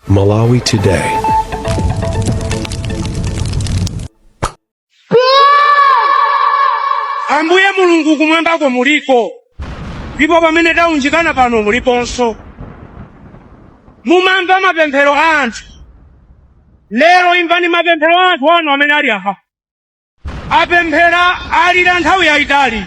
Malawi Today. ambuye mulungu kumwambako muliko ndipo pamene taunjikana pano muliponso mumamva mapemphero a anthu lero imvani mapemphero a anthu anu amene ali apa Apemphera, alira nthawi yaitali.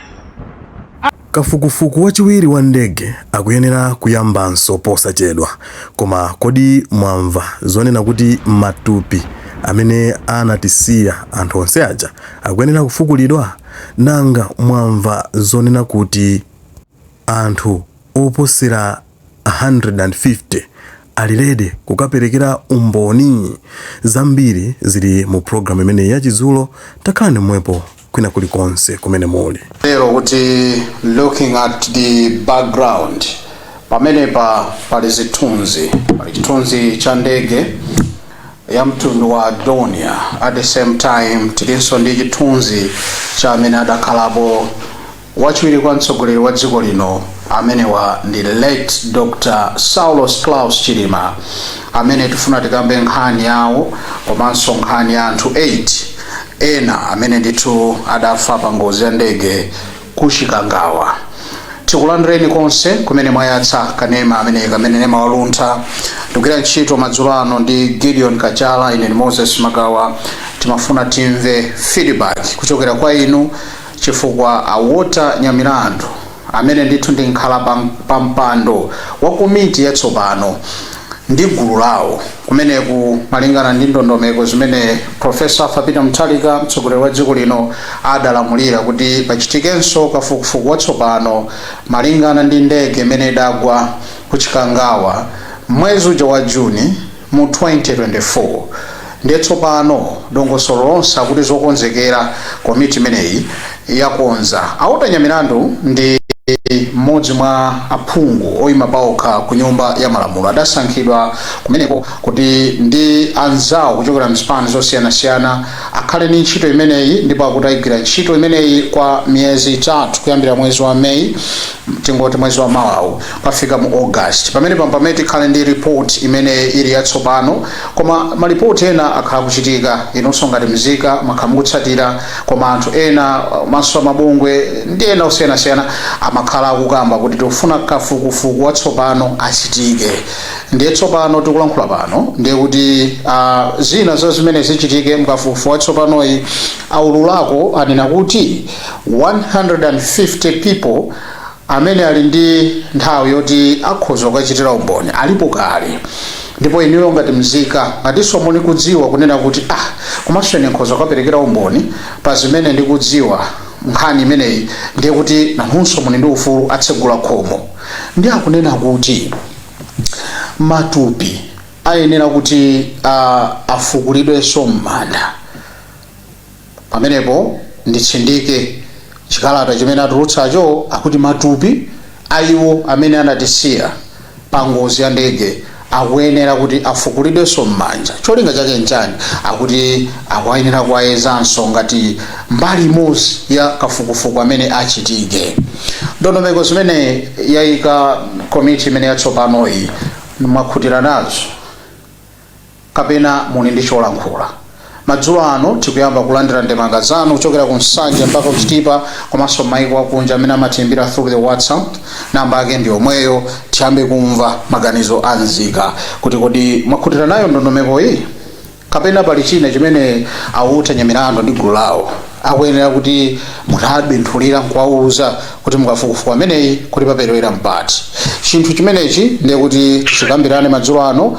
Kafukufuku wachiwiri wa ndege akuyenera kuyambanso posachedwa. Koma kodi mwamva zonena kuti matupi amene anatisiya anthu onse aja akuyenera kufukulidwa? Nanga mwamva zonena kuti anthu oposera. 150 ali ready kukaperekera umboni. Zambiri zili mu program imeneyi ya Chindunji, takhalani pomwepo kwina kuli konse kumene muli. Tero kuti looking at the background pamenepa pali zithunzi pali chithunzi cha ndege ya mtundu wa Dornier at the same time tilinso ndi chithunzi cha amene adakhalapo Wachiwiri kwa mtsogoleri wa dziko lino amenewa ndi late Dr Saulos Klaus Chilima amene tifuna tikambe nkhani yawo komanso nkhani ya anthu 8 ena amene ndithu adafa pa ngozi ya ndege ku Chikangawa. Tikulandireni konse kumene mwayatsa kanema ameneka kanema wa Luntha tikugwira ntchito madzulo ano ndi Gideon Kachala ine ndi Moses Magawa timafuna timve feedback kuchokera kwa inu chifukwa a Walter Nyamilandu amene ndithu ndi mkhalapampando wa komiti yatsopano ndi gulu lawo kumeneku malingana ndi ndondomeko zimene Prof. Arthur Peter Mutharika mtsogoleri wa dziko lino adalamulira kuti pachitikenso kafukufuku watsopano malingana ndi ndege imene idagwa ku Chikangawa mwezi uja wa June mu 2024 ndiye tsopano dongosolo lonse akuti zokonzekera komiti imeneyi yakonza. A Walter Nyamilandu ndi mmodzi mwa aphungu oima paokha ku Nyumba ya Malamulo adasankhidwa kumeneko kuti ndi anzawo kuchokera m'zipani zosiyanasiyana akhale ndi ntchito imeneyi ndipo akuti aigwira ntchito imeneyi kwa miyezi itatu kuyambira mwezi wa May tingoti mwezi wa mawawu kufika mu August pamenepa mpamene tikhale ndi report imene ili yatsopano koma malipoti ena akhala akuchitika inunso ngati mzika makhala mukutsatira koma anthu ena makamaka mabungwe ndi ena osiyanasiyana amakhala akukamba kuti tikufuna kafukufuku watsopano achitike ndiye tsopano tikulankhula pano ndiye kuti uh, zina za zimene zichitike mkafukufuku watsopanoyu aululako anena kuti 150 people Amene ali ndi nthawi yoti akhoza kukachitira umboni alipo kale. Ndipo inuyo ngati mzika, ngatinso muli kudziwa kunena kuti, ah, komanso ine nkhoza kukaperekera umboni pa zimene ndikudziwa m'nkhani imeneyi, ndiye kuti nanunso muli ndi ufulu, atsegula khomo. Ndiye akunena kuti matupi ayenera kuti a, afukulidwenso m'manda. Pamenepo nditsindike chikalata chimene atulutsacho, akuti matupi a iwo amene anatisiya pa ngozi ya ndege akuyenera kuti afukulidwenso m'manda. Cholinga chake n'chani? Akuti akuyenera kuwayezanso ngati mbali imodzi ya kafukufuku amene achitike. Ndondomeko zimene yaika komiti imeneyi yatsopanoyi mwakhutira nazo? kapena muli ndi cholankhula. Madzulo ano tikuyamba kulandira ndemanga zanu kuchokera ku Nsanje mpaka ku Chitipa komanso m'mayiko akunja amene amatiimbira through the WhatsApp. Namba yake ndi yomweyo. Tiyambe kumva maganizo a nzika kuti kodi mwakhutira nayo ndondomekoyi kapena pali china chimene a Walter Nyamilandu ndi gulu lawo akuyenera kuti mutabenthulira nkuwawuza kuti mukafukufuku ameneyi kuti paperewera mpati. Chinthu chimenechi ndiye kuti tikambirane madzulo ano.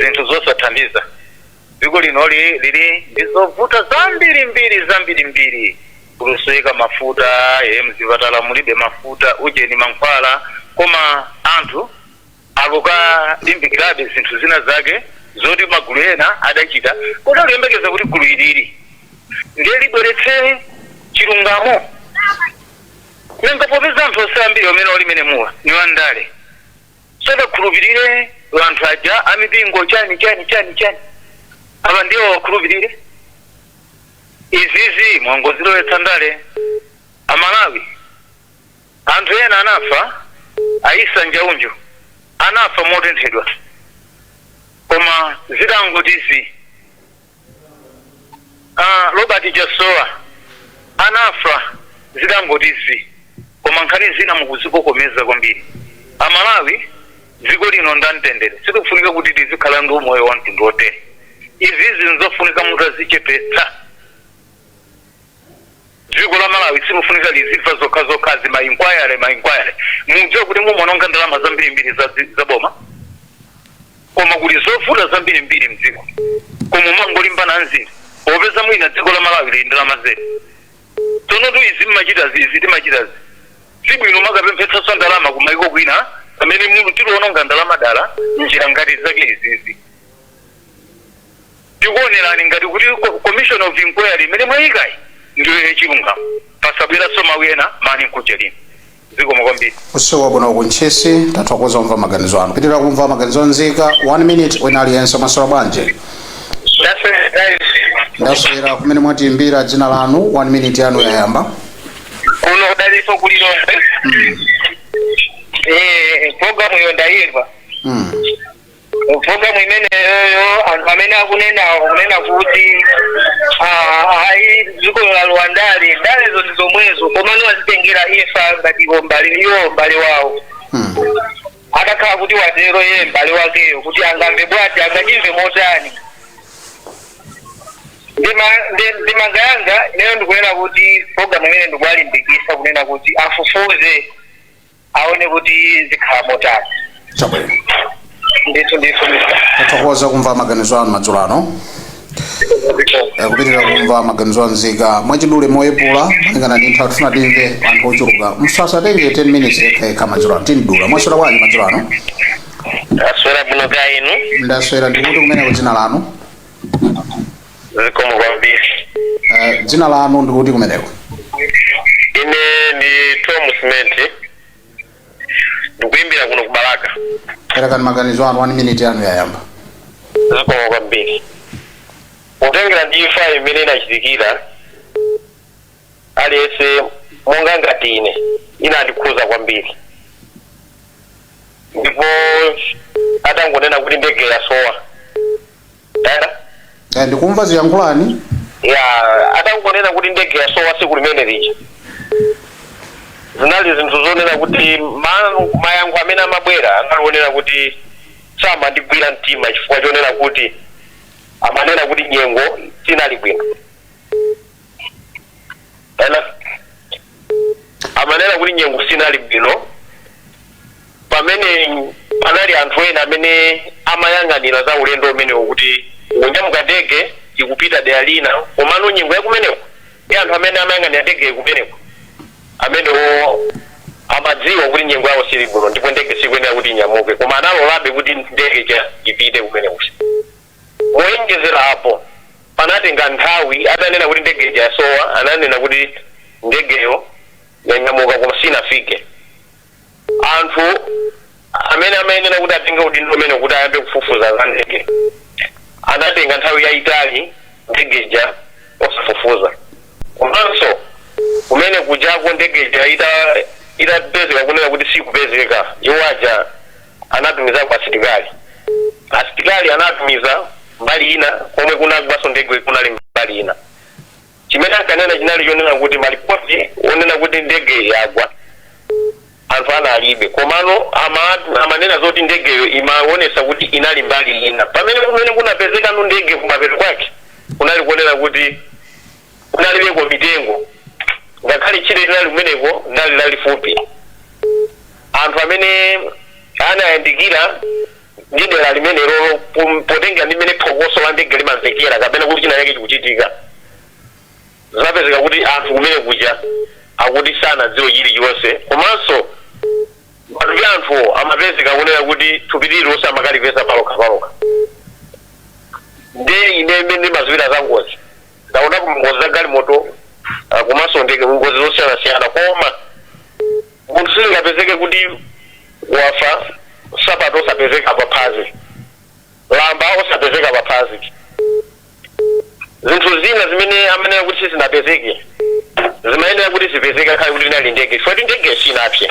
zinthu zosathandiza. Dziko lino li, lili ndi zovuta zambiri mbiri zambiri mbiri. Kulusowa mafuta, e, mzipatala mulibe mafuta, ujeni mankhwala. Koma anthu akukalimbikirabe zinthu zina zake zoti magulu ena adachita. Kodi akuyembekeza kuti gulu ilili ndiye libweretse chilungamo? Nanga popeza anthu onse ambiri amene ali m'menemuwa ni wandale. sadakhulupirire anthu aja a mipingo chani chani chani chani awa ndiwo awakhulupirire izizi mwangozilowetsa ndale amalawi anthu ena anafa a issa njaunju anafa motenthedwa koma zidangoti zii A Robert Chasowa anafa zidangoti zii koma nkhani zina mukuzikokomeza kwambiri. A Malawi dziko lino nda mtendere sikufunika kuti tizikhala ndi umoyo wa mtundu wotere. Izizi nzofunika mutazichepetsa. dziko la malawi silufunika lizimva zokha zokhazi ma inquiry ma inquiry mudziwe kuti mumaononga ndalama zambirimbiri za, dzi- za boma koma kuli zovuta zambirimbiri mdziko koma mumangolimbana nzizi popeza mwina dziko la malawi lili nndalama zedi tsonotu izi mmachita zizi timachita zi sibwino makapemphetsanso ndalama kumaiko kwina pamene muli tiliononga ndalama dala njira ngati zake izizi Tikuonerani ngati kuti commission of inquiry imene mwayikayi ndiyo ya chilungamo. Pasabweranso mawu ena mmanong'onong'o ayi. Zikomo kwambiri. Usiku wabwana ku Ntchisi. Tathokoza kumva maganizo anu. Kupitilira kumva maganizo a nzika. 1 minute wina aliyense mwaswera bwanji? Ndaswera guys. Ndaswera kumene mwatiimbira dzina lanu. 1 minute yanu yayamba. Kuno ndi Daliso ku Lilongwe. Mm. Eh, program iyo ndayimva. Mm. Programu imeneyoyo anthu amene akunenawo kunena kuti ah, ayi zikulowa ndale ndalezo ndi zomwezo komano azitengera ifa ngati iwo mbale iwo mbale wawo Hmm. atakhala kuti watero iye mbale wakeyo kuti angamve bwanji angachimve motani Ndema- nde- ndemanga yanga ineyo ndikunena kuti programu imene ndikuwalimbikisa kunena kuti afufuze aone kuti zikhala motani chabwino ndithu ndithu mr tathokoza kumva maganizo anu madzulo ano Eh, kupitirira kumva maganizo anzika mwachidule moyepula malingana ndi nthawi tifuna timve anthu ochuluka musasatenge 10 minutes yekhayekha madzulo ano timdula mwaswera bwanji madzulo ano taswera bwino kaya inu ndaswera ndikuti kumeneko dzina lanu zikomo kwambiri Eh, dzina lanu ndikuti kumeneko ine ndi tom smith ndikuimbira kuno kubalaka perekani maganizo anu 1 minute yanu yayamba zikomo kwambiri kutengera ndi imfa imene inachitikira aliyense monga ngati ine inandikhuza kwambiri ndipo atangonena kuti ndege yasowa Hello? Eh, ndikumva ziyankhulani ya atangonena kuti ndege yasowa tsiku limene lija zinali zinthu zonena kuti ma- mayankho amene amabwera anali onena kuti samandigwira mtima chifukwa chonena kuti amanena kuti nyengo sinali bwino ena amanena kuti nyengo sinali bwino pamene panali anthu ena amene amayang'anira za ulendo umenewo kuti kunyamuka ndege ikupita dera lina komano nyengo yakumeneko ndi anthu amene amayang'anira ndege kumeneko amenewo amadziwa kuti nyengo yawo sili bwino ndipo ndege sikuyenera kuti inyamuke koma analolabe kuti ndege ija ipite kumeneko Moyenjezera apo, panatenga nthawi atanena kuti ndege ija yasowa, ananena kuti ndegeyo yanyamuka koma sinafike. Anthu amene amayenera kuti atenge udindo umenewu kuti ayambe kufufuza za ndege, anatenga nthawi yaitali ndege ija osafufuza. Komanso kumene kujako ndege ija itapezeka kunena kuti sikupezeka, iwo aja. anatumizako asilikali asilikali anatumiza mbali ina komwe kunagwaso ndege kunali mbali ina chimene ankanena chinali chonena kuti malipoti onena kuti ndege yagwa anthu analibe komano ama- amanena zoti ndegeyo imaonesa kuti inali mbali ina pamene kumene kunapezekano ndege kumapeto kwake kunali kunena kuti Kunalibeko mitengo, ngakhale tchire linali kumeneko linali lalifupi. Anthu amene anayandikira ndi dera limenelolo pom- potengera ndi mmene phokoso la ndege limamvekera kapena kuti china chake chikuchitika, zinapezeka kuti anthu kumene kuja akuti sanadziwe chilichonse komanso matupi a anthuwo amapezeka kunena kuti thupi lililonse amakalipeza palokha palokha. Ndiye ine imene ndimadziwira za ngozi ndaonapo ngozi za galimoto ah, komanso ndege ngozi zosiyanasiyana koma munthu sizingapezeke kuti wafa sapato osapezeka paphazi lamba osapezeka paphazi zinthu zina zimene amanena kuti sizinapezeke zimayenera kuti zipezeke ngakhale kuti inali ndege chifukwa kuti ndege sinapse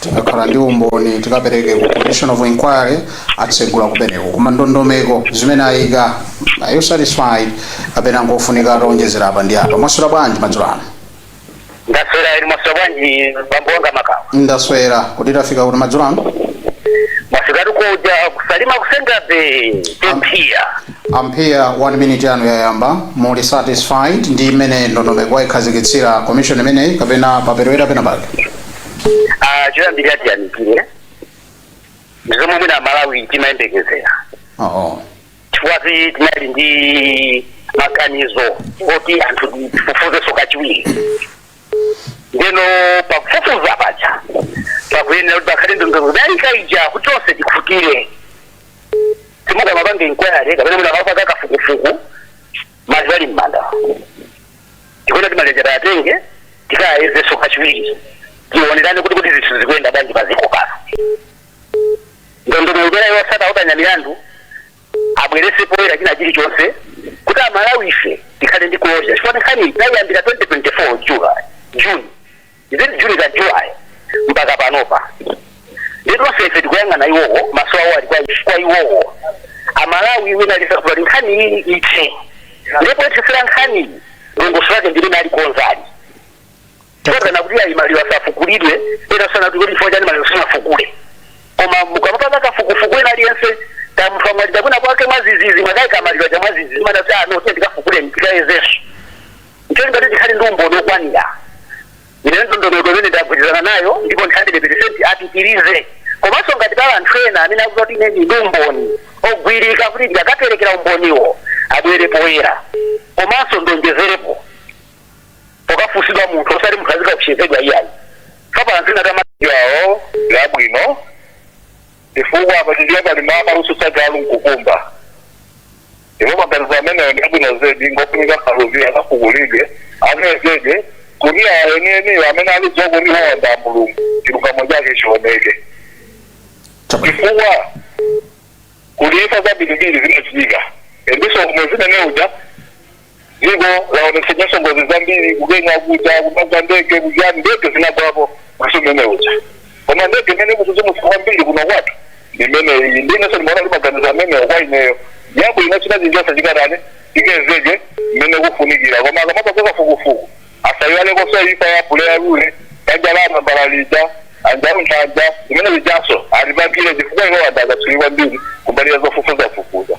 tikakhala ndi umboni tikapereke ku commission of inquiry atsegula kumeneko koma ndondomeko zimene ayika are you satisfied kapena ngofunika ataonjezera apa ndi apa mwaswera bwanji madzulo ano ndaswera iri mwaswera bwanji bambo wanga makawa ndaswera kuti tafika kuti madzulo ano mwaswera tikuja ku Salima ku Senga Bay a Mpia a Mpia one minute yanu yayamba muli satisfied ndi imene ndondomeko ayikhazikitsira commission imeneyi kapena paperewera pena pake Ah, choyambirira tiyamikire ndi zomwe mwina Amalawi timayembekezera oo chifukwa kuti tinali ndi maganizo oti anthu tifufuzenso kachiwiri ndeno pakufufuza paja pakuyenera kuti pakhale ndondomeko kudalika ija kuti tonse tikhutire ati mukamapanga inquiry kapena mwina mukamapanga kafukufuku maliro ali m'manda tikuona kuti maliro aja tiwatenge tikayezenso kachiwiri tionerane kuti kuti zinthu zikuyenda bwanji paziko pano ndondomeko imene atsata otanya milandu abwerese poyera china chilichonse kuti amalawi ife tikhale ndi closure chifukwa nkhani tayiyambira 2024 jula june Is it June ka July mpaka panopa? Ndi tonse ife tikuyang'ana iwowo maso awo ali kwa ife- kwa iwowo. Amalawi wina tikufuna nkhani iyi ithe. Ndipo ithesera nkhani iyi ndongoso lake ndi ena ali ko anzathu. Akunena kuti ayi maliro asafukulidwe ena akunena kuti kuti chifukwa chani maliro sanafukule. Koma mukamapanga kafukufuku wina aliyense ngati munthu wamwalira kwina kwake mwadzidzidzi mwakaika maliro aja mwadzidzidzi mumanena kuti ah no tiyeni tikafukule tikayezenso. N'cholinga chakuti tikhale ndi umboni wokwanira, ine ndondomeko imene ndagwirizana nayo ndipo ndi 100 peresenti apitirize. Komanso ngati pali anthu ena amene akuti ine ndili ndi umboni ogwirika kuti ndikaperekera umboniwo abwere poyera. Komanso ndiwonjezerepo pokafunsidwa munthu osati munthu azikaopsezedwa iyayi. Chifukwa pali anthu ena kuti amadziwa awo ndi abwino. chifukwa apa Chichewa pali mawu akutsutsa galu nkukumba ndipo maganizo ameneyo ndi abwino zedi ngofunika Mfaluzi akafukulidwe ayezedwe kuti awa enieniyo amene alidziwa kuti woona mulungu chilungamo chake chioneke Chabwino. chifukwa kuli imfa zambirimbiri zimachitika ndiponso mwezi umene uja Dziko laonetsanso ngozi zambiri ku Kenya kuja kumagwa ndege kujani ndege zinagwapo mwezi umene uja koma ndege imene ikudzidzimutsa kwambiri kuno kwathu ndi imeneyi ndinenso ndimaona kuti maganizo amenewo kwa ineyo ngabwino achite zilizonse chikatani chikayezedwe mmene kufunikira koma akamapanga kafukufuku asayiwalekonso imfa ya loya uja banja la Namalomba lija Njauju imfa zimene zijanso azipangire chifukwa iwo anthu akatswiri kwambiri kumbali ya zofufuzafufuza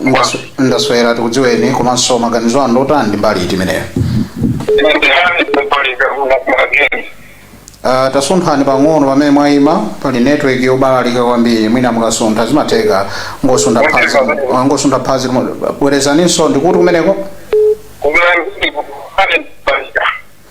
Ndasu- ndaswera tikudziweni komanso maganizo anu otani ndi mbali iti imeneyo Ah, tasunthani pang'ono pamene mwayima pali network yobalalika kwambiri mwina mukasuntha zimatheka kungosuntha phazi ah, kungosuntha phazi koma bwerezaninso ndikuti kumeneko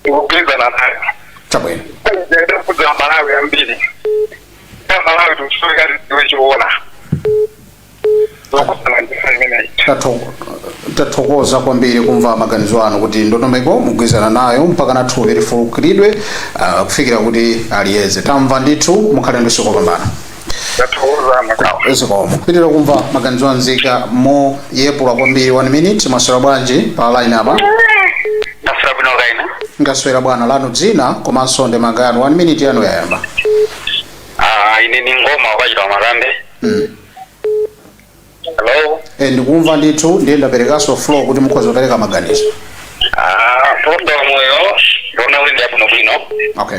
ndikugwirizana nayo chabwino ndiyenda kudzera Amalawi ambiri a Malawi tikusoweka tidziwe zoona zokhudzana ndi nkhani imeneyi Tatho- tathokoza kwambiri kumva maganizo anu kuti ndondomeko mugwirizana nayo mpaka na thupi lifukulidwe ah, kufikira kuti aliyeze tamva ndithu mukhale ndi usiku wopambana ndathokoza makawa zikomo kupitirira kumva maganizo anzika moyepula kwambiri 1 minute mwaswera bwanji pa line apa ndaswera bwino kaya inu ndaswera bwana lanu dzina komanso ndemanga yanu 1 minute yanu yayamba Ah, ine ni Ngoma waku Chitawa Makambe Mm. hello Eh, ndikumva ndithu ndiye ndaperekanso floor kuti mukhoza kupereka maganizo Ah, program uyo ndaona kuti ndiyabwino bwino okay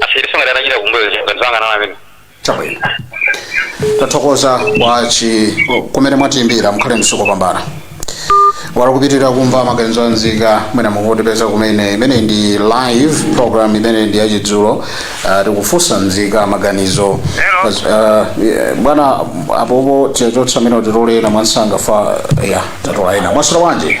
Asayesenso ngati atachita kumbuyo kuja ngati sanganana amene. chabwino tathokoza kwa chi kumene mwatiimbira mukhale ndi usiku wopambana wala kupitirira kumva maganizo a nzika mwina mukutipeza kumene imene ndi live program imene ndi yachidzulo uh, tikufunsa nzika maganizo Hello. As- uh, yeah, bwana apopo tichotsa amene titole ena mwansanga fa ya tatola ena mwaswera bwanji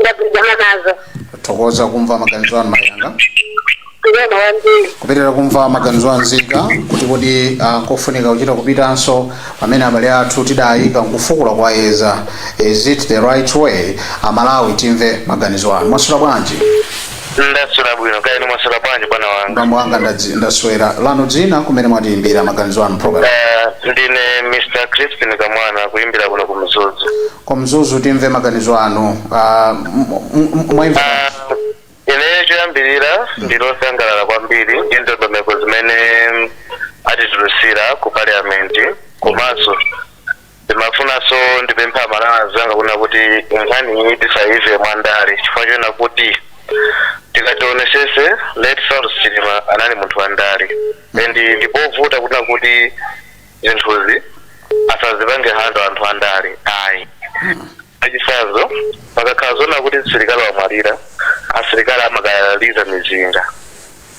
ndagwirizana nazo tathokoza kumva maganizo anu mayi anga ndiyena wambiri kupitirira kumva maganizo a nzika kuti kodi ah, kofunika kuchita kupitanso pamene abale athu tidayika nkufukula kukayeza is it the right way aMalawi timve maganizo anu mwaswera bwanji ndaswera bwino kaya inu mwaswera bwanji bwana wanga bambo wanga ndadzi- ndaswera lanu dzina kumene mwatiyimbira maganizo anu program Eh, ndine mr crispin kamwana kuyimbira kuno ku mzuzu ku mzuzu timve maganizo anu Ah, m- m- m- mwaimva Ah, ineyo choyambirira ndili osangalala kwambiri ndi ndondomeko zimene atitulutsira ku parliament komanso ndimafunanso ndipemphe aMalawi anzanga kunena kuti nkhani iyi tisaimve mwandale chifukwa chonena kuti tikati tionesese late Saulos Chilima anali munthu wa ndale and ndipovuta kunena kuti zinthuzi asazipange handle anthu a ndale ayi Mwachitsanzo, pakakhala zonena kuti msilikali wamwalira, asilikali amakaliza mizinga.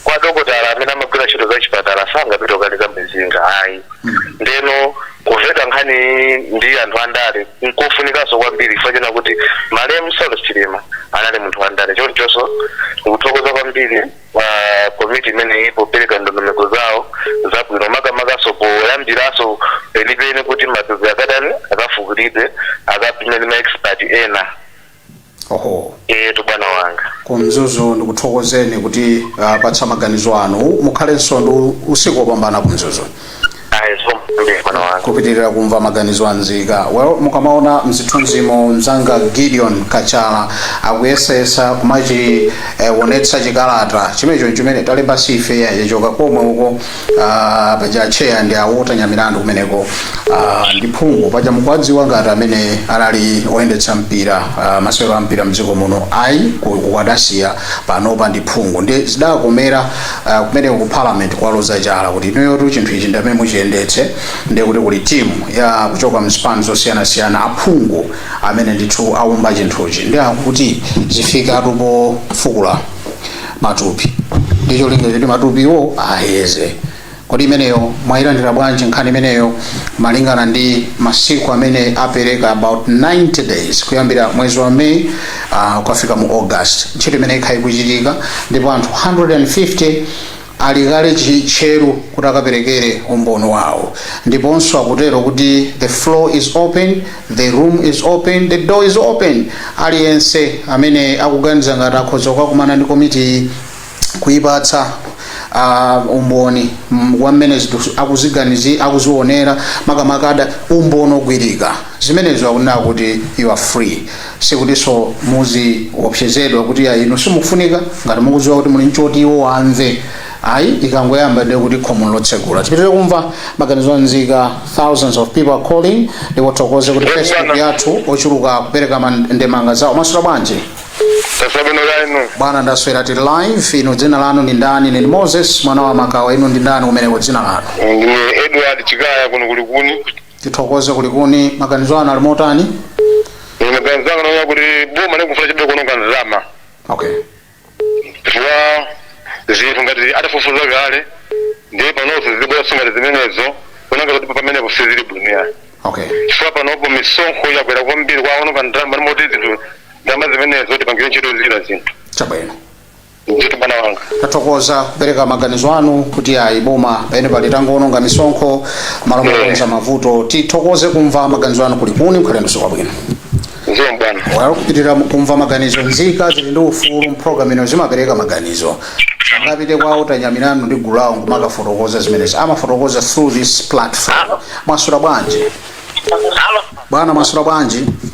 Koma dokotala amene amagwira ntchito zachipatala sangapite kukaliza mizinga ayi. Ndeno kuveta nkhani iyi ndi anthu andale nkofunikanso kwambiri chifukwa chonena kuti malemu Saulos Chilima anali munthu wandale. Chonchonso ndikuthokoza kwambiri kwa komiti imeneyi popeleka ndondomeko zawo zabwino makamakaso poyambiraso penipeni kuti matupi akatani akafukulidwe akapimidwe ndi maexpert ena oho eetu bwana wanga kumzuzu ndikuthokozeni potipatsa maganizo anu mukhalenso ndi usiku wopambana kumzuzu ayi zikomo bwana wanga kupitirira kumva maganizo a nzika well mukamaona mzithunzimo mzanga gideon kachala akuyesayesa kumachionetsa chikalata chimenecho chimene talemba si ife yachoka komwe uko ah, paja cheya ndi a Walter nyamilandu kumeneko ah, ndi phungu paja mukuwadziwa ngati amene anali oyendetsa mpira ah, masewero a mpira mdziko muno ayi ku- ku adasiya panopa ndi phungu ndi zidakomera Uh, kumeneko ku parliament kwaloza chala kuti inuyotu chinthu ichi ndamene muchiyendetse ndiye kuti kuli timu ya kuchoka mzipani zosiyanasiyana aphungu amene ndithu aumba chinthuchi ndiye akuti zifikatu pofukula matupi ndi cholinga choti matupiwo ayeze kodi imeneyo mwayilandira bwanji nkhani imeneyo malingana ndi masiku amene apereka about 90 days kuyambira mwezi wa may uh, kukafika mu august ntchito imene ikhala ikuchitika ndipo anthu 150 ali kale chitcheru kuti akaperekere umboni wawo ndiponso akutero kuti the floor is open the room is open the door is open aliyense amene akuganiza ngati akhoza kukakumana ndi komitiyi kuipatsa uh, umboni mm, wa mmene zinthu akuziganizi akuzionera makamaka kuda umboni ogwirika zimenezo akunena kuti you are free sikutinso muziopsezedwa kuti ya inu simukufunika ngati mukudziwa kuti muli nchoti iwo amve ayi ikangoyamba ndiye kuti khomo lotsegula tipitire kumva maganizo anzika thousands of people are calling ndikuthokoze kuti facebook yathu ochuluka kupereka man- ndemanga zawo mwaswera bwanji taswera bwino kaya inu bwana ndaswera tili live inu dzina lanu ndi ndani ine ndi moses mwana wa makawa inu ndi ndani kumeneko dzina lanu ndine edward chikaya kuno ku likuni tithokoze ku likuni maganizo anu ali motani ine ganizo langa naona kuti boma likufuna chabe kuononga ndalama okay chifukwa zinthu ngati adafufuza kale ndiye panonso zibwera zangati zimenezo kuona kuti pamenepo sizili bwino okay chifukwa panopo misonkho yakwera kwambiri kwaononga ndalama moti zinthu ndalama zimenezo tipangire ntchito zina zinthu chabwino ndithu bwana wanga tathokoza kupereka maganizo anu kuti ayi boma pamene pali tangoononga misonkho malo mokonza mavuto tithokoze kumva maganizo anu ku likuni mukhale ndi usiku wabwino zikomo bwana walo kupitirira kumva maganizo nzika zili ndi ufulu mu pulogalamu ino zimapereka maganizo sangapite kwa walter nyamilandu ndi gulu lawo kumakafotokoza zimenezi amafotokoza through this platform mwaswera bwanji bwana mwaswera bwanji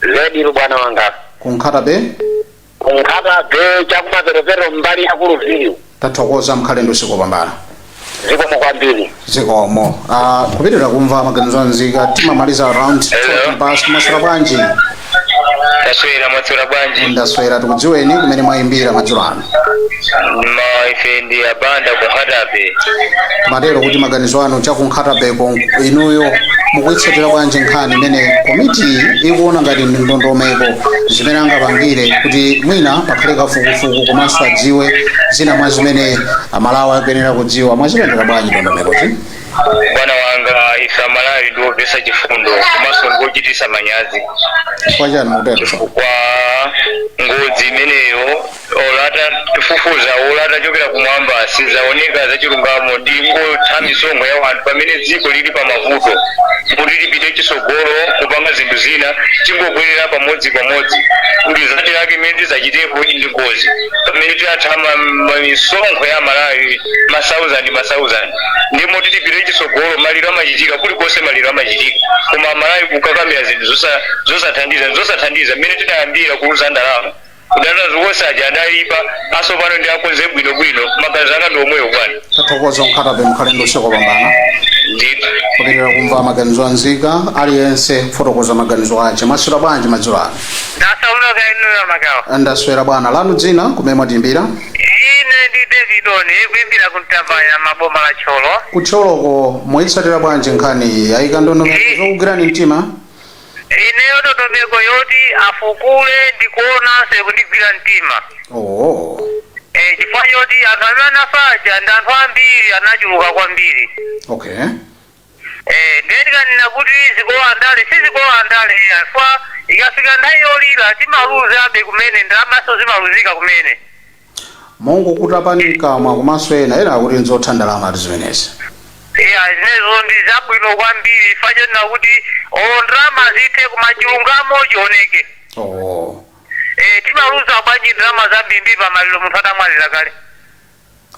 zedi bwana wanga ku nkhata bay ku nkhata bay chakumaperopero mbali ya kuluviyu tathokoza mukhale ndi usiku wopambana zikomo kwambiri zikomo Ah, kupitirira kumva maganizo a nzika timamaliza around 20 past mwaswera bwanji taswera mwaswera bwanji ndaswera tikudziweni kumene mwayimbira madzulo ano ma ife ndi a banda ku nkhata bay mwatero kuti maganizo anu cha ku nkhata bay ko inuyo mukuyitsatira bwanji nkhani imene komiti ikuona ngati ndondomeko zimene angapangire kuti mwina pakhale kafukufuku komanso adziwe zina mwa zimene amalawi akuyenera kudziwa mwazipendera bwanji ndondomekozi bwana wanga ife amalawi ndi omvetsa chifundo komanso ndi ochitisa manyazi chifukwa chani mukutero chifukwa ngozi imeneyo olata tifufuza olata chokera kumwamba sizaoneka zachilungamo tingotha misonkho ya wanthu pamene dziko lili pa mavuto kuti lipite chisogolo kupanga zinthu zina tingobwerera pamodzi pamodzi kuti zati lake imene tizachitepo ndi ngozi pamene tikutha ma- ma- misonkho ya malawi masauzandi masauzandi ndi mmoti tipite chitsogolo maliro amachitika kulikonse maliro amachitika koma amalawi kukakamira zinthu zosa- zosathandiza zosathandiza mmene tidayambira kuuza ndalama kudana zonse aja adayipa asopano ndi akonze bwinobwino maganizo anga ndi omwewo bwana tathokoza ku nkhata bay mukhale ndi usiku wopambana ndithu kupitirira kumva maganizo anzika aliyense kufotokoza maganizo ache mwaswera bwanji madzulo ano ndasamuka inuyo makawa ndaswera bwana lanu dzina kumene mwatiimbira Ine ndi David kuimbira ku Mtambanyama boma la Thyolo. Ku Thyoloko mwayitsatira bwanji nkhaniyi? Ayika ndondomeko zokugwirani mtima? Ineyo ndondomeko yoti afukule ndikuonanso ikundigwira mtima. Ooo. Eh, chifukwa choti anthu amene anafa aja ndi anthu ambiri anachuluka kwambiri. Okay. Eee ndiye ndikanena kuti zikulowa ndale sizikulowa ndale iya chifukwa ikafika nthawi yolira timaluzabe kumene ndalamaso zimaluzika kumene. Mongokudulani mkamwa komanso ena ena akuti nzotha ndalamatu zimenezi. Iya zimenezo ndi zabwino kwambiri chifukwa chonena kuti olo ndalama zithe koma chilungamo chioneke. Ooo. Eee timaluza bwanji ndalama zambirimbiri pamaliro munthu atamwalira kale.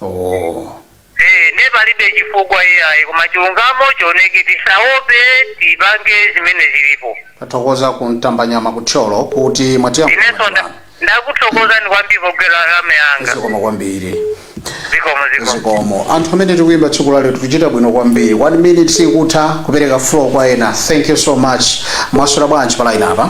oh. Eh, ne palibe chifukwa iyayi koma chilungamo chioneke tisaope tipange zimene zilipo tathokoza ku Mtambanyama ku Thyolo kuti inenso mwatiyankhulana nda- ndakuthokozani kwambiri pogwira lamya yanga zikomo kwambiri zikomo zikomo zikomo anthu amene tikuyimba tsiku la lero tikuchita bwino kwambiri one minute sikutha kupereka floor kwa ena thank you so much mwaswera bwanji palaini apa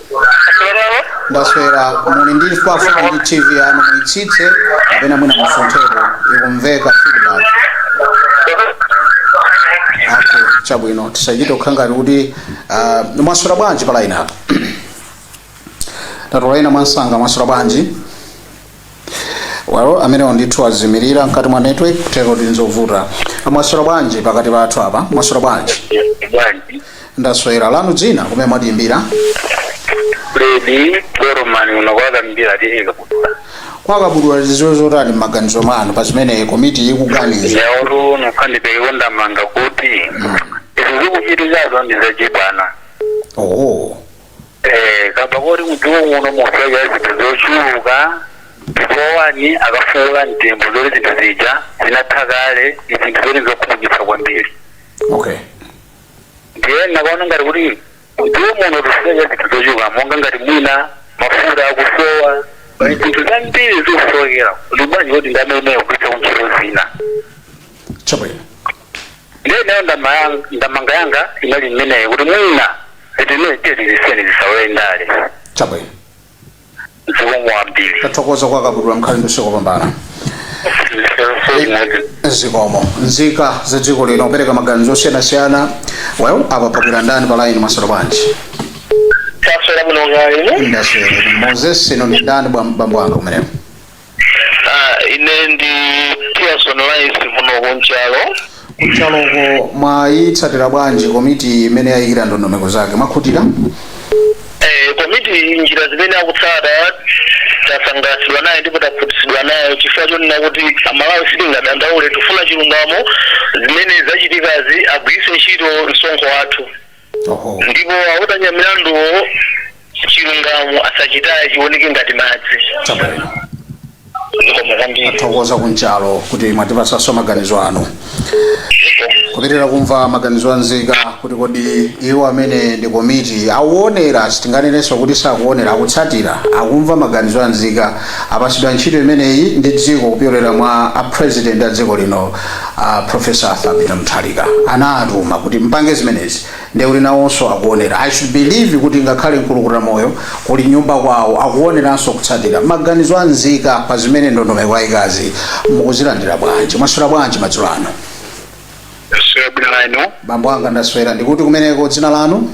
Chiyemere. ndaswera muli pafupi ndi tv yanu muitsitse kapena mwina musuntheko ikumveka feedback okay chabwino tisachite kukhala ngati kuti ah, mwaswera bwanji pa line apa tatolaina mwansanga mwaswera bwanji well amenewo ndithu azimirira mkati mwa network kutero ndi nzovuta mwaswera bwanji pakati pathu apa mwaswera bwanji bwanji ndaswera lanu dzina kumene mwatiimbira Freddy Goromani unakwata Mbira T/A Kabudula kwa Kabudula zili zotani m'maganizo mwanu pa zimene komiti ikuganiza yaulu nokha ndipereke ndemanga kuti izi zikuchitikazo ndi zachibwana oho Eh, kamba koti m'dziko muno mukusowekera zinthu zochuluka ndipo ponena akafukula mtembo zoti zinthu zija zinatha kale ndi zinthu zoti zokhumudwitsa kwambiri okay ndiye nakaona ngati kuti m'dziko muno tikusowekera zinthu zochuluka monga ngati mwina mafuta akusowa pali zinthu zambiri zikusowekera kuti bwanji kuti ndalamayo kugwiritsa kuntchito zina chabwino ndiye ineyo ndama yang- ndemanga yanga inali mmeneyo kuti mwina zinthu zimenezi tiye tizisiyeni zisalowe ndale chabwino zikomo kwambiri tathokoza kwa kabudula mkhale ndi usiku wabwino soimodzi zikomo nzika za dziko lino kupereka maganizo osiyanasiyana well apa pabwera ndani pa line mwaswera bwanji taswera mwina ngati inu ndaswera moses inu ndi ndani bwa- bambo anga kumeneko Ah, ine ndi Pearson Rice kuno kunchalo. kunchaloko mwayitsatira bwanji komiti imene yayikira ndondomeko zake mwakhutira Eh, komiti njira zimene akutsata tasangalatsidwa naye ndipo takhutitsidwa nayo chifukwa chonena kuti amalawi sitingadandaule tifuna chilungamo zimene zachitikazi agwiritse ntchito msonkho wathu Oho. ndipo akudanya milanduwo chilungamo asachitaye chioneke ngati madzi Chabwino. zikomo kwambiri Tathokoza kunchalo kuti mwatipasaso maganizo anu. Kupitiriza kumva maganizo a nzika kuti kodi iwo amene ndi komiti akuonera sitinganenenso kuti sakuonera akutsatira akumva maganizo a nzika apasidwa ntchito imeneyi ndi dziko kupyolera mwa a president a dziko lino a professor arthur peter mutharika anawatuma kuti mpange zimenezi ndekuti nawonso akuonera i should believe kuti ngakhale mkulukuta moyo kuli nyumba kwawo akuoneranso kutsatira maganizo a nzika pa zimene ndondomeko ayikazi mukuzilandira bwanji mwaswera bwanji madzulo ano Sio bwana ino. bambo anga ndaswera ndikuti kumeneko dzina lanu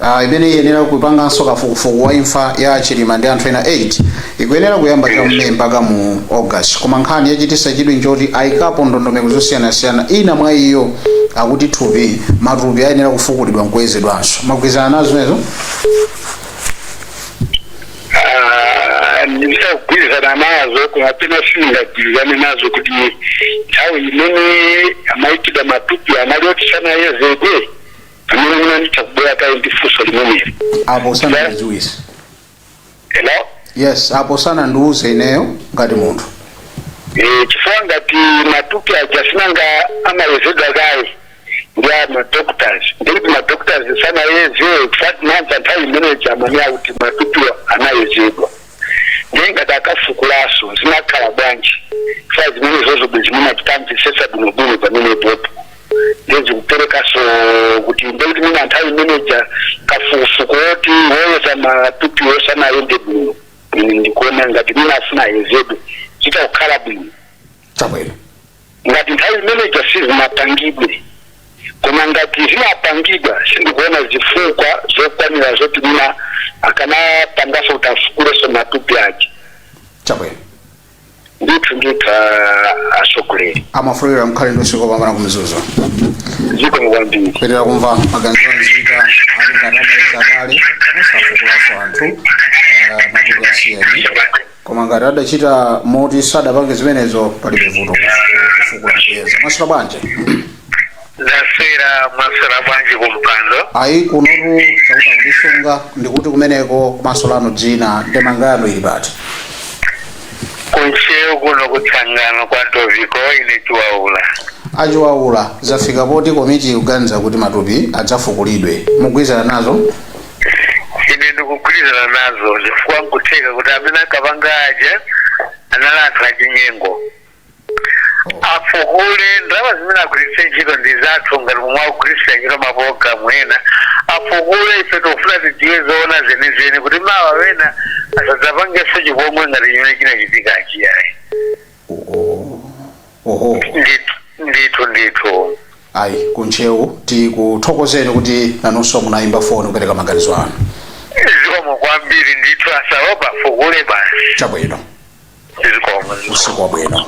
uh, imene iyenera kupanganso kafukufuku wa imfa ya chilima ndi anthu ena 8 ikuyenera kuyamba cha mu may mpaka mu august koma nkhani yachitisa chidwi nchoti ayikapo ndondomeko zosiyanasiyana ina mwa iyo akuti thupi matupi ayenera kufukulidwa nkuyezedwanso mwagwirizana nazo zimenezo Ah, ndizagwirizana nazo koma pena sindingagwirizane nazo ndikuti nthawi imene amaikidwa matupi anali oti sanayezedwe pamene munandifunsa kubwera kaye ndi funso limeneli apo sanandidziwise hello yes apo sanandiwuze ineyo ngati munthu Eh, chifukwa ngati matupi aja sinanga amayezedwa kaye ndi a madoctors ndikuti madoctors sanayeze chifukwa sinanga nthawi imeneja amanena kuti matupiwo anayezedwa ndiye ngati akafukulaso zikhala bwanji chifukwa zimenezozo bwezi mwina titamvisesa bwinobwino pamenepopo ndiye zikuperekaso kuti ndekuti mwina nthawi imeneja kafukufuku woti woyeza matupi sunayende bwino ine ndikuona ngati mwina afuna ayezedwe zitha kukhala bwino chabwino ngati nthawi imeneja sizinapangidwe koma ngati zinapangidwa sindikuona zifukwa zokwanira zoti mwina akanapangaso kuti afukuleso matupi aja chabwino ndithu ndithu atsogoleri amafollower mkhale ndi usiku wopambana kumzuzu zikomo kwambiri kupitiriza kumva maganizo anzika ali ngati adayeza kale osafukulaso anthu eh, matupi asiyeni koma ngati adachita moti sadapange zimenezo palibe vuto kufukula kuyeza mwaswera bwanji ndaswera mwaswera bwanji kumpando ayi kunotu chauta akutisunga ndikuti kumeneko kumaso lanu dzina ndemanga yanu ili pati kuntcheu kuno kutsangano kwa toviko ine chiwaula achiwaula zafika poti komiti ikuganiza kuti matupi adzafukulidwe mukugwirizana nazo ine ndikugwirizana nazo chifukwa nkutheka kuti amene akapanga aja anali anthu achinyengo afukule ndalama zimene agwiritse ntchito ndi zathu ngati momwe akugwiritsira ntchito mapologalamu ena afukule ife tikufuna tidziwe zoona zenizeni kuti mawa wena asadzapangenso chipongwe ngati chimene chinachitika ayi oho ndithu ndithu ndithu ayi kuntcheu tikuthokozeni kuti nanunso munayimba foni kupereka maganizo anu zikomo kwambiri ndithu asaope afukule basi chabwino usiku wabwino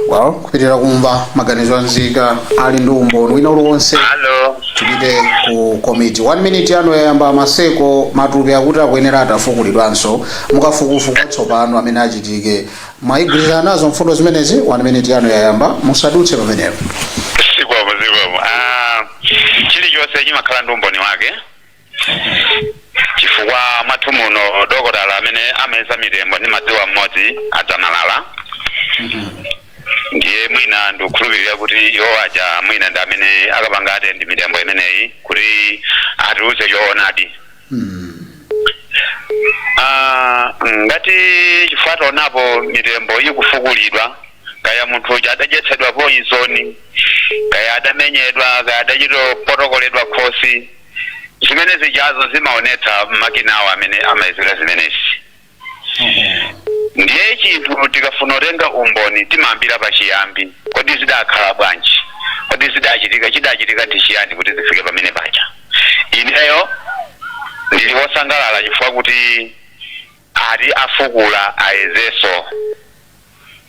well kupitiriza kumva maganizo a nzika ali ndi umboni wina uliwonse Hello. tipite ku komiti one minute yanu yayamba maseko matupi akuti akuyenera atafukulidwanso mukafukufuku watsopano amene achitike mwayigwirizana nazo mfundo zimenezi one minute yanu yayamba musadutse pamenepo Zikomo zikomo. Ah, chilichonse chimakhala ndi umboni wake. chifukwa mwathu muno dokotala amene amayeza mitembo ndimadziwa mmodzi a Dzamalala ndiye mwina ndikukhulupirira kuti iwo aja mwina ndi amene akapanga atendi mitembo imeneyi kuti atiuze choonadi Ah, ngati chifukwa taonapo mitembo ikufukulidwa kaya munthu uja adadyetsedwa poizoni kaya adamenyedwa kaya adachita kupotokoledwa khosi zimene zijazo zimaonetsa makinawo amene amayezera zimenezi ndiye chinthu tikafuna kutenga umboni timayambira pachiyambi kodi zidakhala bwanji kodi zidachitika chidachitika ndi chiyani kuti zifike pamene paja ineyo ndili wosangalala chifukwa kuti Ati afukula ayezenso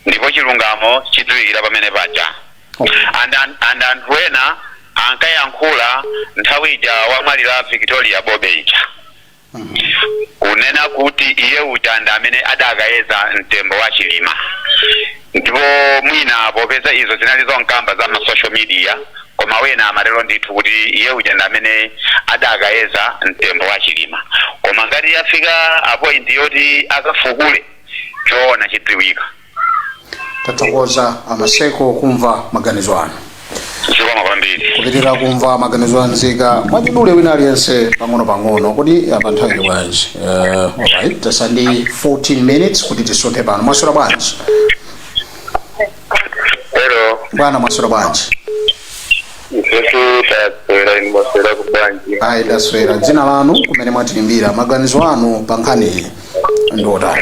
ndipo chilungamo chidziwikira pamene paja and anthu ena ankayankhula nthawi ija wamwalira Victoria Bobe ija kunena kuti iye uja ndi amene adakayeza mtembo wa Chilima. Ndipo mwina popeza izo zinali zonkamba za ma social media, koma wena amatero ndithu kuti iye uja ndi amene adakayeza mtembo wa Chilima. Koma ngati yafika pa point yoti akafukule, choona chidziwika. Tathokoza a Maseko kumva maganizo anu. zikomo kwambiri kupitirira kumva maganizo a nzika mwachidule wina aliyense pang'ono pang'ono kodi apa nthawi ili bwanji Eh, alright tatsala ndi 14 minutes kuti tisunthe pano mwaswera bwanji hello bwana mwaswera bwanji ifetu taswera inu mwaswera bwanji ayi taswera dzina lanu kumene mwatiimbira maganizo anu pa nkhaniyi ndi otani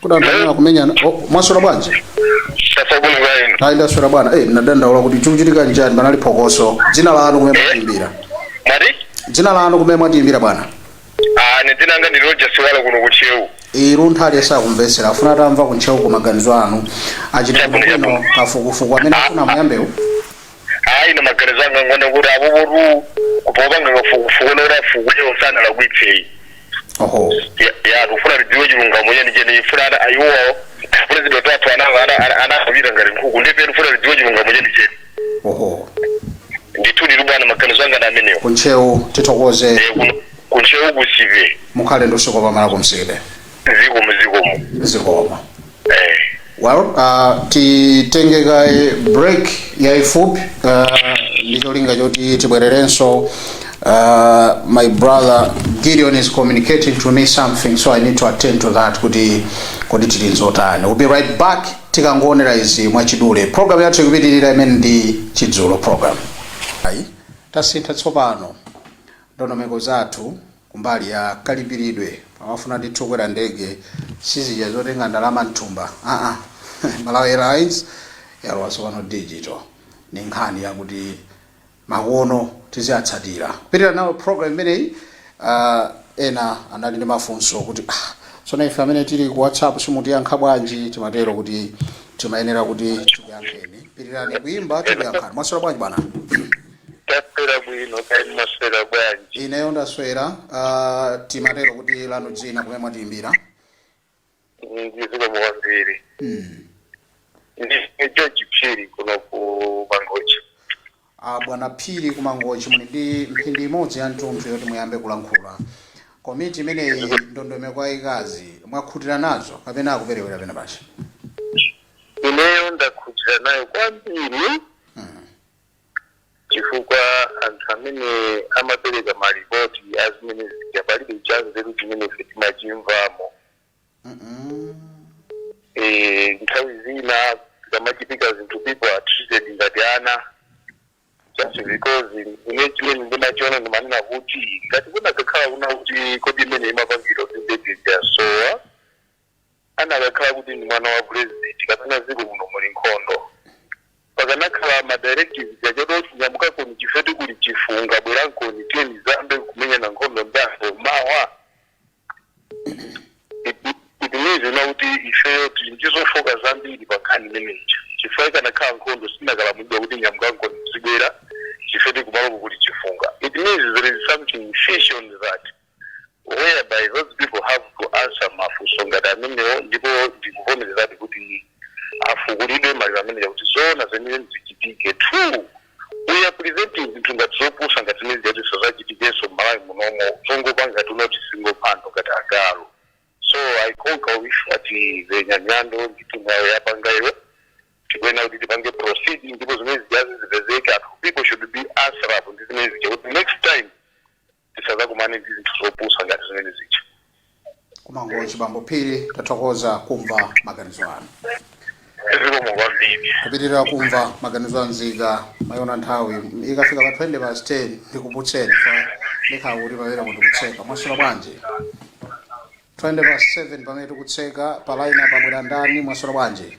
Kudandaula kumenyana. Oh, mwaswera bwanji? Taswera bwino kaya inu. Ayi ndaswera bwana. Eh, nadandaula kuti chikuchitika nchani panali phokoso. Dzina lanu kumene mwatiimbira. Mwati? Dzina lanu kumene mwatiimbira bwana. Ah, ine dzina langa ndi Roger Siwala kuno ku Ntcheu. Munthu aliyense akumvetsera afuna atamva ku Ntcheuko maganizo anu. Achita Chabwino, bwino kafukufuku amene afuna auyambewu. ayi ine maganizo anga ngonena kuti apopotu popanga kafukufuku noti afukuyo sanalakwitse ayi oho Ya- ya tikufuna tidziwe chilungamo cheni cheni funa ana ayiwowo pulezidenti wathu anakafera ngati nkhuku ndiye ife tifuna tidziwe chilungamo cheni cheni oho ndithu ndithu bwana maganizo anga ndi amenewo kuntcheu tithokoze Eh, kuno- kuntcheu kunsipe mukhale ndi usiku wabwino kunsipe zikomo zikomo zikomo eh well uh, titenge kaye break yaifupi uh, ndi cholinga choti tibwererenso uh, my brother gideon is communicating to me something so i need to attend to that kuti kodi tili nzotani we'll be right back tikangoonera izi mwachidule program yathu ikupitirira imene ndi chidzulo program ayi tasintha tsopano ndondomeko zathu kumbali ya kalipiridwe amafuna ndithu kukwera ndege sizija zotenga ndalama mthumba aa malawi airlines yalowa tsopano digital ndi nkhani yakuti makono tiziyatsatira kupitirira nawo program imeneyi uh, ena anali ndi mafunso kuti ah, tsono ife amene tili ku whatsapp simutiyankha bwanji timatero kuti timayenera kuti tikuyankheni pitirirani kuimba tikuyankhani mwaswera bwanji bwana Taswera bwino kaya mwaswera bwanji? Ineyo ndaswera, ah, timatero kuti lanu dzina kumene mwatiimbira. Zikomo kwambiri. Hmm. Ndi George Phiri kuno ku Mangochi. Ah, bwana Phiri ku Mangochi muli ndi mphindi imodzi ya mtunthu yoti muyambe kulankhula. Komiti imeneyi ndondomeko yayikazi mwakhutira nazo kapena akuperewera penapake? Ineyo ndakhutira nayo kwambiri. Hmm. chifukwa anthu amene amapereka malipoti a zimene zija palibe chanzeru chimene ife timachimvamo Eh, nthawi zina zikamachitika zinthu people are treated ngati ana just because ine chimene ndimachiona ndimanena kuti ngati kunakakhala kunena kuti komiti imene imapangidwa kundededya sowa anakakhala kuti ndi mwana wa president kapena dziko lino muli nkhondo pakanakhala ma directives onena kuti nyamukankoni chifukwa choti kuli chifunga bwerankoni tidzayambe kumenyana nkhondo ndako mawa it means kunena kuti ifeyo tili ndizofoka zambiri pa nkhani imeneyi chifukwa ikanakhala nkhondo sanakalamulidwa kuti nyamukankoni muzibwera chifukwa choti kumaloko kuli chifunga it means there is something fishy on that whereby those people have to answer mafunso ngati amenewo ndipo ndikuvomerezadi kuti afukulidwe maliro ameneja kuti zoona zenizeni zichitike two we are preventing zinthu ngati zopusa ngati zimene zija kuti zisadzachitikenso mmalawi munomo zongopanga ngati kunena kuti zingopangidwa ngati agalu so i concur with a walter nyamilandu ndi timu yawo yapangayo tikuyenera kuti tipange proceed ndipo zimene zijazi zipezeke anthu people should be answerable ndi zimene zija kuti next time tisadzakumane ndi zinthu zopusa ngati zimene zija ku mangochi bambo phiri tathokoza kumva maganizo anu zikomo kwambiri kupitirira kumva maganizo anzika mwayiona nthawi ikufika pa 20 past 10 ndikuputseni pa ndikhala kuti pamene mukutitsegula mwaswera bwanji 20 past 7 pamene tikutseka pa line pabwera ndani mwaswera bwanji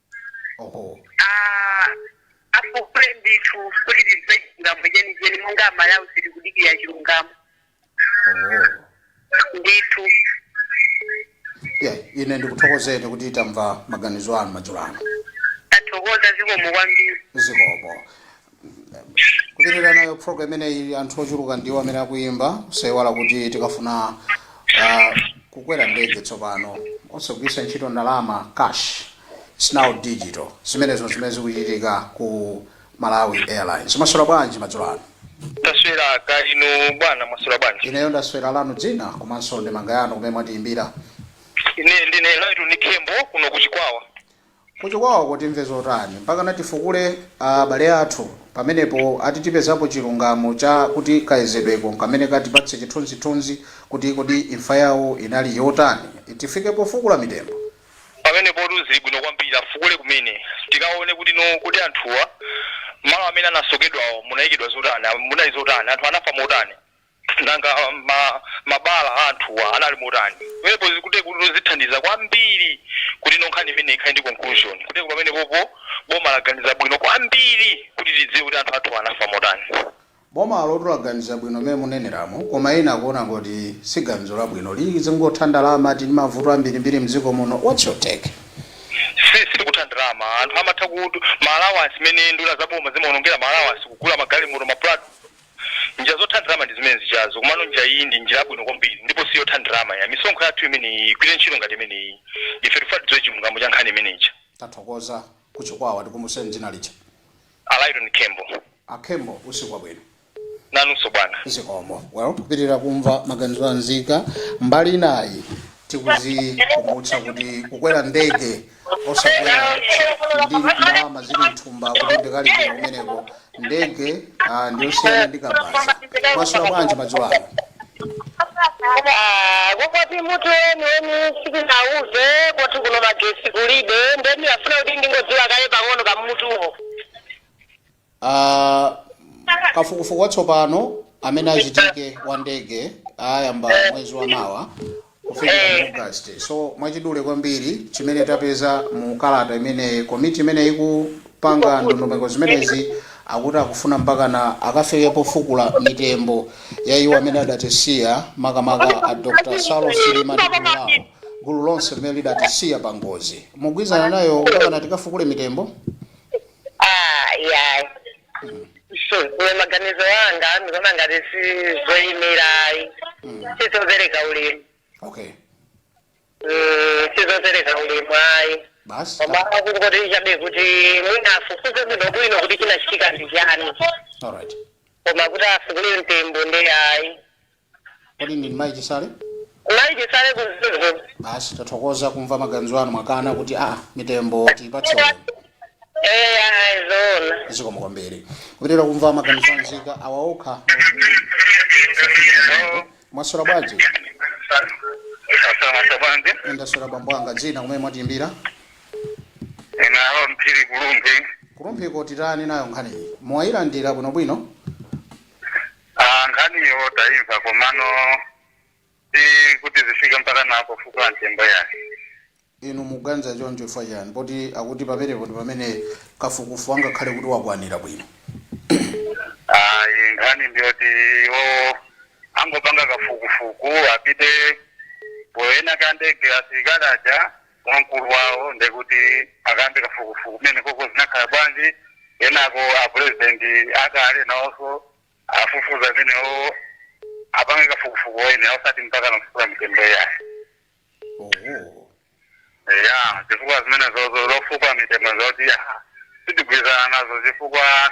oho Ah, afukule ndithu kuti tidziwe chilungamo chenicheni monga amalawi tili kudikira chilungamo oho ndithu yeah ine ndikuthokozeni kuti tamva maganizo anu madzulo ano ndathokoza zikomo kwambiri zikomo kupitirira nayo program imeneyi anthu ochuluka ndiwo amene akuyimba osayiwala kuti tikafuna uh, kukwera ndege tsopano osagwiritsa ntchito ndalama za cash It's now digital zimenezo zimene zikuchitika ku malawi airlines mwaswera bwanji madzulo ano taswera kaya inu bwana mwaswera bwanji ineyo ndaswera lanu dzina komanso ndemanga yanu kumene mwatiyimbira ine ndine laitoni khembo kuno kuchikwawa Kuchikwawako timve zotani? Mpakana tifukule abale athu pamenepo ati tipezapo chilungamo cha kuti kayezedweko nkamene katipatse chithunzithunzi kuti kodi imfa yawo inali yotani? Tifike pofukula mitembo? Pamenepotu zili bwino kwambiri afukule kumene tikaone kuti no kodi anthuwa mmalo amene anasokedwawo munayikidwa zotani, munali zotani, anthu anafa motani? Nanga mabala a anthuwa anali motani? Pamenepo zikutek kuti no zithandiza kwambiri kuti no nkhani imeneyi ikhale ndi conclusion. Kutek pamenepopo boma laganiza bwino kwambiri kuti tidziwe kuti anthu athuwa anafa motani. Bomalotu laganiza bwino mmene muneneramu, koma ena akuona ngoti si ganizo labwino. Lizingotha ndalama, tili ndi mavuto ambirimbiri m'dziko muno. What's your take? Si sikutha ndalama. Anthu amatha kuti ma allowance mmene nduna za boma zimaonongera ma allowance kugula magalimoto, ma prado. Njira zotha ndalama ndi zimene zijazo komano njira iyi ndi njira yabwino kwambiri ndipo si yotha ndalama ya. Misonkho yathu imeneyi igwire ntchito ngati imeneyi. Ife tikufuna tidziwe chilungamo cha nkhani imene ija. Tathokoza. Ku Chikwawa tikumbuseni dzina lija. A Lyton Khembo. A Khembo, usiku wabwino. Nanunso bwana. Zikomo. Well, kupitirira kumva maganizo a nzika. Mbali inayi tikuzikumbutsa kuti kukwera ndege. osakwera ndi ndalama zili mthumba kuti ndikalipira kumeneko ndege ah, ndiyosiyana ndi kabasa mwaswera bwanji madzulo ano kukwati mutu weni weni simunatiuze kwathu kuno magesi kulibe nde ndimafuna kuti ndingodziwa kaye pang'ono kamutuwo Ah, kafukufuku watsopano amene achitike wa ndege ayamba mwezi wa mawa kufikira august so mwachidule kwambiri chimene tapeza mu kalata imene komiti imene ikupanga ndondomeko zimenezi akuti akufuna mpakana akafike pofukula mitembo ya iwo amene adatisiya makamaka a dr saulos chilima ndi gulu lawo gulu lonse limene lidatisiya pa ngozi mugwirizana nayo mpakana tikafukule mitembo Ah, yeah. Ine maganizo anga ndikuona ngati sizoyenera ayi sizopereka ulemu okay Mm, sizopereka ulemu ayi basi koma kungoti chabe kuti mwina afufuze bwino bwino kuti chinachitika ndi chani alright koma kuti afukule mtembo nde ayi Kodi ndinu mayi chisale? Mayi chisale ku Mzuzu. Basi tathokoza kumva maganizo anu mwakana kuti aa mitembo tiyipatse ulemu. Eya ayi zoona. Zikomo kwambiri. Kupitira kumva maganizo a nzika awa okha akuti mm tisafike pamenepo. Mwaswera bwanji? Ndaswera mwaswera bwanji? Ndaswera bambo anga dzina kumene mwatiyimbira? Ine Aaron Phiri ku Rumphi. Ku Rumphi ko titani nayo nkhaniyi? Mwayilandira bwinobwino? Ah, nkhaniyo taimva komano si kuti zifike mpakana pofukula mtembo yayi inu muganiza choncho chifukwa chani poti akuti pamenepo ndi pamene kafukufuku angakhale kuti wakwanira bwino ayi nkhani ndiyoti iwo angopanga kafukufuku apite poona ka ndege asilikali aja wamkulu wawo ndekuti akambe kafukufuku kumeneko ko zinakhala bwanji kenako apurezidenti akale nawonso afufuze amenewo apange kafukufuku wene osati mpakana kufukula mitembo yayi oho ya chifukwa zimenezo zo zofukula mitembo zoti ah, sitigwirizana nazo chifukwa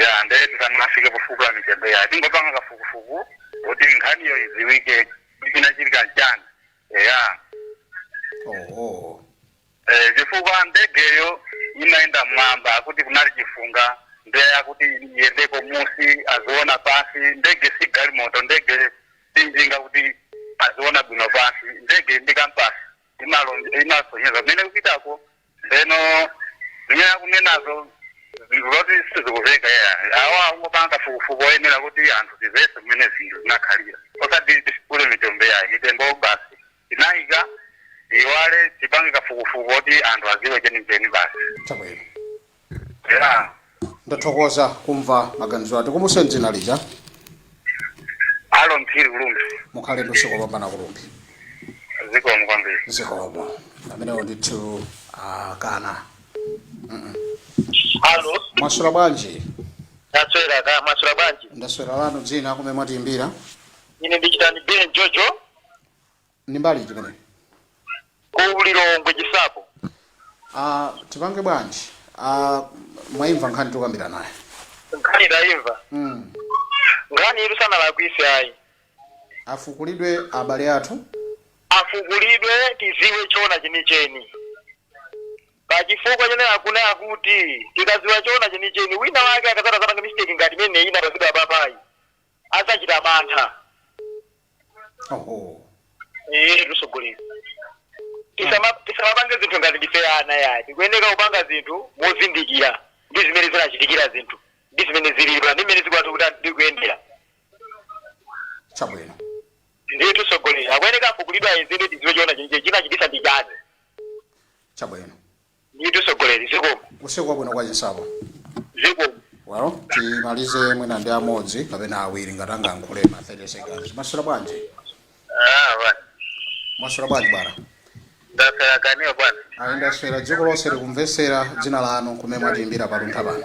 ya ndee tisanafike pofukula mitembo ija tingopanga kafukufuku kuti nkhaniyo idziwike kuti chinachitika nchani eya oho Eh, chifukwa ndegeyo imayenda mmwamba akuti kunali chifunga nde akuti iyendeko mmusi aziona pansi ndege si galimoto ndege si njinga kuti aziona bwino pansi ndege ndi kampasi imalo- imasonyeza kumene kupitako Ndeno zimene akunenazo zinthu zoti sizikuveka iyayi awa angopanga kafukufuku oyenera kuti anthu tivetse mmene zinthu zinakhalira osati tifukule mitembo iyayi mitembo basi tinaika tiyiwale tipange kafukufuku oti anthu aziwe chenicheni basi. Chabwino. Eya, ndathokoza kumva maganizo atikumbutseni dzina lija Alo Phiri ku Lumbadzi. mukhale ndi usiku wopambana ku Lumbadzi Zikomo kwambiri. zikomo amenewo ndithu akana Alo, mwaswera bwanji ndaswera kaya mwaswera bwanji. ndaswera lanu dzina kumene mwatiimbira Ine ndichitani Ben Jojo. Ndi mbali iti imeneyo? Ku Lilongwe Chinsapo. Aaa tipange bwanji? Aaa mwaimva nkhani tikukambiranayi? Nkhani taimva. Hmm. Nkhaniyitu sanalakwise ayi. Afukulidwe abale athu? Afukulidwe tiziwe choona chenicheni. Pa chifukwa chonena kuti tikaziwa choona chenicheni wina wake akadzati adzapange mistake ngati imeneyi inapangidwa apapayi adzachita mantha oho iye tsogolo lino Tisama- tisamapange zinthu ngati ndife ana ayi tikuyeneka kupanga zinthu mozindikira ndi zimene zinachitikira zinthu ndi zimene zilipo ndi zimene zikwati kuti ndikuyendera chabwino ndiye tusogolera akuyeneka afukulidwe ayezedwe tiziwe choona chimene chinachitisa ndi chani chabwino Ndithu sogoleri zikomo. Usiku wabwino kwa chinsapo. Zikomo. Well, timalize mwina ndi amodzi kapena awiri ngati angayankhule ma 30 seconds. Mwaswera bwanji? Ah, bwana. Mwaswera bwanji bwana? Ndaswera kaya inuyo bwana. Ayi ndaswera dziko lonse likumvetsera dzina lanu kumene mwatiimbira paluntha pano.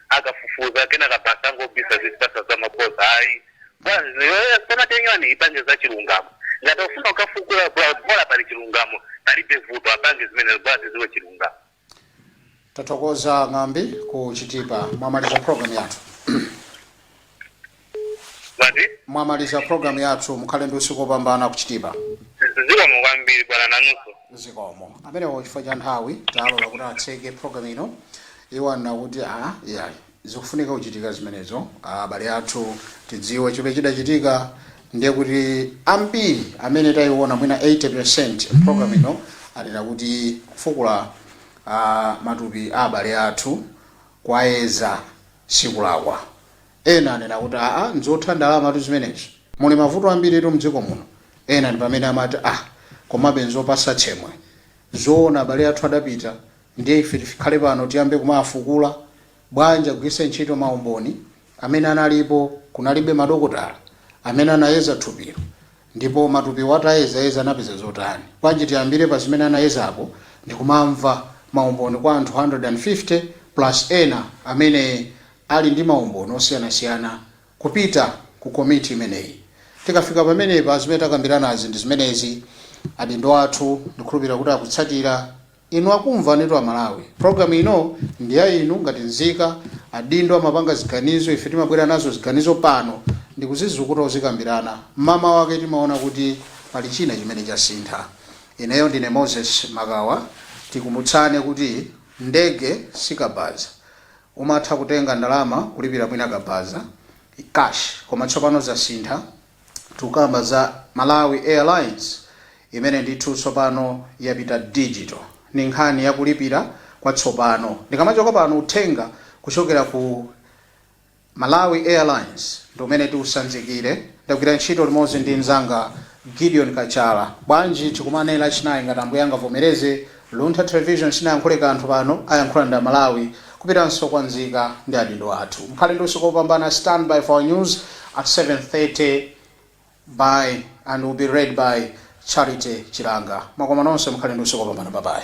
akafufuza kenaka basi angobisa kutipatsa za mabodza ayi bwanzi yoyo samatenyani ipange za chilungamo ngati akufuna kukafukula bwa- bola pali chilungamo palibe vuto apange zimenezo kuti tidziwe chilungamo tathokoza Ng'ambi ku Chitipa mwamaliza program yathu mwati mwamaliza program yathu mukhale ndi usiku opambana ku chitipa zikomo kwambiri bwana nanunso zikomo amenewo chifukwa cha nthawi talola kuti atseke program ino iwo anena kuti a iyayi zikufunika kuchitika zimenezo abale athu tidziwe chimene chidachitika ndiye kuti ambiri amene tayiona mwina 80% program ino anena kuti kufukula ah, matupi abale athu kwayeza sikulakwa Ena anena kuti aa nzotha ndalamatu zimenezi. Muli mavuto ambiritu mdziko muno. Ena ndipamene amati ah komabe nzopatsa tsemwe. Zoona abale athu adapita ndiye ife tikhale pano tiyambe kumawafukula? Bwanji agwiritse ntchito maumboni amene analipo kunalibe madokotala amene anayeza thupilo Ndipo matupiwo atayezayeza anapeza zotani? Bwanji tiyambire pa zimene anayezapo ndi kumamva maumboni kwa anthu 150 plus ena amene ali ndi maumboni osiyanasiyana kupita ku komiti imeneyi. Tikafika pamenepa zimene takambiranazi ndi zimenezi adindo athu ndikhulupirira kuti akutsatira. Inu akumvanitu a Malawi. Program ino ndi ya inu ngati nzika. Adindo amapanga ziganizo, ife timabwera nazo ziganizo pano ndikuzizukuta kuzikambirana. Mmamawa ake timaona kuti pali china chimene chasintha. Ineyo ndine Moses Makawa. Tikumbutsane kuti ndege si kabaza. Umatha kutenga ndalama kulipira mwina kabaza, cash, koma tsopano zasintha. Tukamba za Malawi Airlines imene ndithu tsopano yapita digital. Ni nkhani ya kulipira kwa tsopano. Ndikamachoka pano uthenga kuchokera ku Malawi Airlines ndi umene tiusanzikire. Ndagwira ntchito limodzi ndi mnzanga Gideon Kachala. Bwanji tikumane lachinayi ngati Ambuye angavomereze Luntha Television sinayankhule kanthu pano, ayankhula ndi a Malawi. Kupitanso kwa nzika ndi adindo athu. Mukhale ndi usiku opambana stand by for news at 7:30 by and will be read by Charity Chilanga. Mwakoma nonse mukhale ndi usiku opambana bye bye.